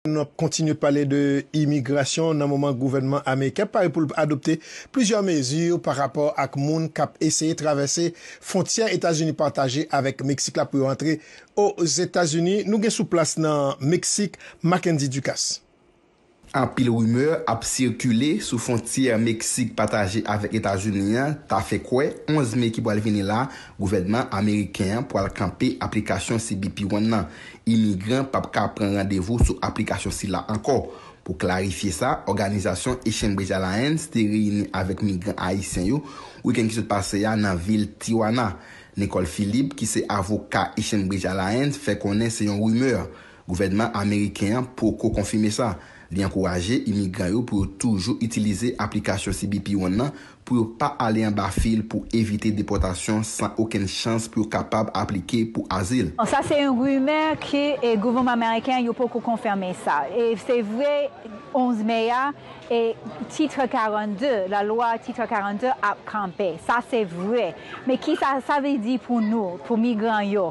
Nou ap kontinye pale de imigrasyon nan moman gouvènman ameriken pare pou l adopte plizyè mezi pa rapò ak moun k ap eseye travèse fwontyè Etazini pataje avèk Meksik la pou yo antre Ozetazini. Nou gen sou plas nan Meksik, Mackendy Ducasse. Anpil rimè ap sikile sou fwontyè Meksik pataje avèk Etazini an ta fè kwè 11 me ki pral vini la gouvènman ameriken an pral kanpe aplikasyon cbp One nan. Imigran pap ka pran randevou sou aplikasyon sila ankò. Pou klarifye sa, òganizasyon A Chambres Alliance te reyini avèk migran ayisyen yo wikenn ki sot pase a nan vil Tijuana. Nicole Philippe ki se avoka A Chambres Alliance fè konnen se yon rimè. Gouvènman ameriken an poko konfime sa. Li ankouraje imigran yo pou yo toujou itilize aplikasyon CBP One nan pou yo pa ale anba fil pou evite depòtasyon san okenn chans pou yo kapab aplike pou azil. Sa se yon rimè ke gouvènman ameriken yo poko konfime sa. E se vre 11 me a e titre 42, la lwa titre 42 ap kanpe. Sa se vre. Men kisa sa vle di pou nou, pou migran yo?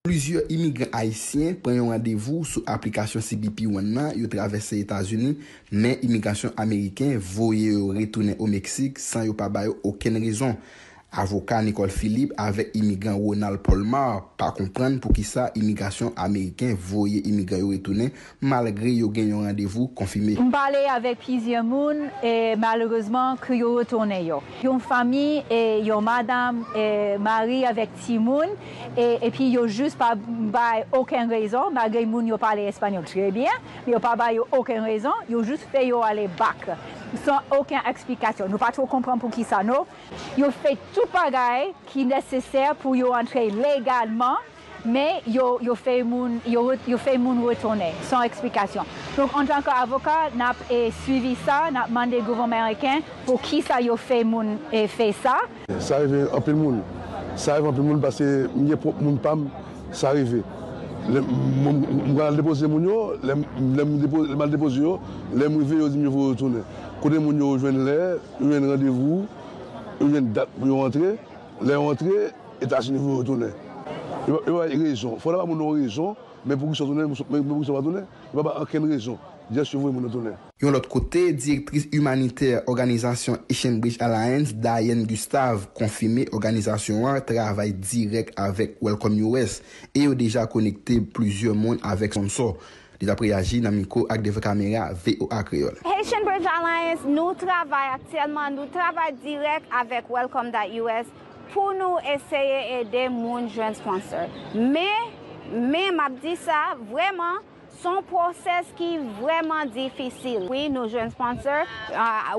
Plizyè imigran ayisyen pran yon randevou sou aplikasyon cbp One nan, yo travèse Etazini, men imigrasyon ameriken voye yo retounen o Meksik san yo pa ba yo okenn rezon. Avoka Nicole Philippe avèk imigran Ronald Polmar pa konprann poukisa imigrasyon ameriken voye imigran yo retounen malgre yo gen yon randevou konfime. M pale avèk plizyè moun e malerezman ke yo retounen yo. Yon fanmi e yon madam e mari avèk timoun e epi yo jis pa bay oken rezon malgre moun yo pale espanyòl trè byen men yo pa ba yo oken rezon yo jis fè yo ale bak san oken eksplikasyon nou pa two konprann poukisa no. Yo fè tout bagay ki nesesè pou yo antre legalman. Men, yo fèy moun retounen san eksplikasyon. Donk, antan ke avoka, n ap swivi sa, n ap mande gouvènman meriken pou ki sa yo fèy moun fè sa. Sa rive anpil moun. Sa rive anpil moun paske m gen pwòp moun pa m sa rive. M konn al depoze moun yo, lè m al depoze yo, lè m rive yo di m yo vle retounen. Kote moun yo, yo jwenn lè, yo jwenn randevou, yo jwenn dat pou yo antre. Lè yo antre, Etazini voye yo tounen. Yo pa bay rezon. Fò w ta ba moun nan yon rezon, men poukisa w tounen, men poukisa w pa tounen, yo pa bay ankenn rezon. Jès yo voye moun nan tounen. Yon lòt kote, direktris imanitè òganizasyon Echanbridge Alliance, Diane Gustave, konfime òganizasyon an travay dirèk avèk Welcome US e yo deja konekte plizyè moun avèk sponsò. Li tap reyaji nan mikwo ak devan kamera voa Kreyol. Haitian Bridge Alliance nou travay aktyèlman nou travay dirèk avèk Welcome that us pou nou eseye ede moun jwenn sponsor men men map di sa vrèman son process ki vrèman difisil wi nou jwenn sponsor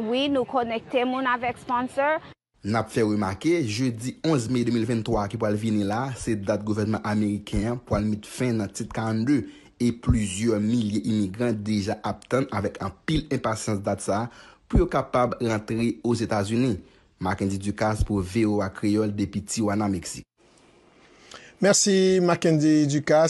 wi nou konekte moun avèk sponsor N ap fè remake, jedi 11 me 2023 a ki pral vini la, se dat gouvènman ameriken an pral met fen nan Tit 42, e plizyè milye imigran deja ap tann avèk anpil enpasyans dat sa pou yo kapab rantre Ozetazini. Mackendy Ducasse pou voa Kreyol depi Tijuana, Meksik. Mèsi Mackendy Ducasse.